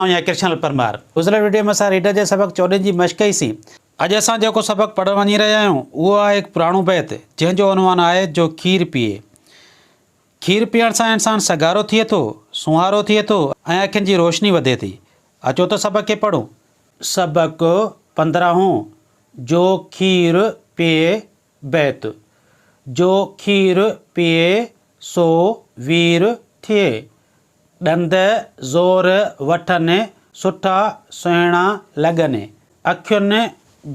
آئون آهيان ڪرشن لال پرمار. گذريل وڊيو ۾ اسان ريڊر جي سبق چوڏهن جي مشق ڪئي سين. اڄ اسان جيڪو سبق پڙهڻ وڃي رهيا آهيون اهو آهي هڪ پراڻو بيت جنهن جو عنوان آهي جو کير پيئي. کير پيئڻ سان انسان سگهارو ٿئي ٿو، سونهارو ٿئي ٿو ۽ اکين جي روشني وڌي ٿي. اچو ته سبق کي پڙهون. سبق پندرهون جو کير پيئي بيت، جو کير پيئي سو وير ٿئي. ڏند زور وٺن سٺا سهڻا لڳن. اکين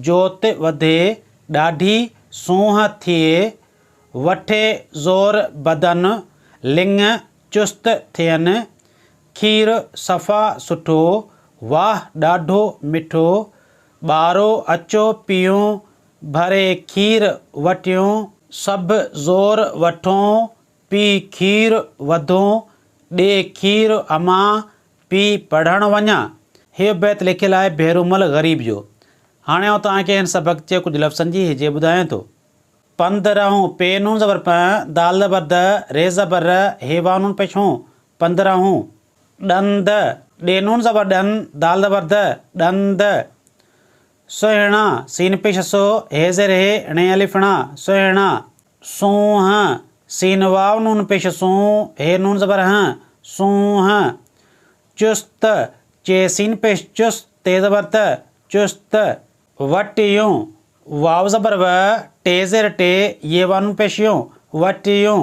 جوت وڌي ڏاڍي سونهن ٿئي. وٺي زور بدن لڱ چست ٿين. کير صفا سٺو، واهه ڏاڍو مٺو. ٻارو اچو پيئون ڀري کير وٽيون سڀ زور وٺون پي کير وڌون ڏي کير امان پي پڙهڻ وڃان هيء بيت لکيل آهي ڀيرومل غريب جو. هاڻي آئون توهان کي هن سبق جي ڪجهه لفظن جي هجي ٻڌايان ٿو. پنڌ رهون، پ نون زبر پ، دال زبر د، ر زبر ر، ه واو نون پيش هون، پنڌ رهون. ڏند، ڏ نون زبر ڏن، دال زبر د، ڏند. سهڻا، سين پيش سو، هي زير هي، ڻي الف ڻا، سهڻا، سونهن، سين واو نون پيش سون، هي نون زبر هن، سونهن، چست، چي سين پيش چس، تي زبر ت، چست، وٽيون، واو زبر و، ٽي زير ٽي، يي وا نون پيش يون، وٽيون،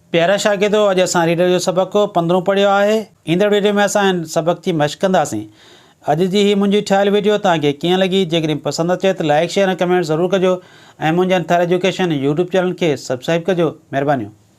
پيارا شاگردو اڄ اسان ريڊر جو سبق پندرهون پڙهيو آهي. ايندڙ ويڊيو ۾ اسان هن سبق جي مشق ڪنداسين. اڄ جي هي منهنجي ٺاهيل ويڊيو توهان کي ڪيئن لڳي؟ جيڪڏهن پسند اچي ته لائيڪ شيئر ۽ ڪمينٽ ضرور ڪجو ۽ منهنجي انتھار ايجوڪيشن يوٽيوب چينل کي سبسڪرائيب ڪجو. مھربانيون.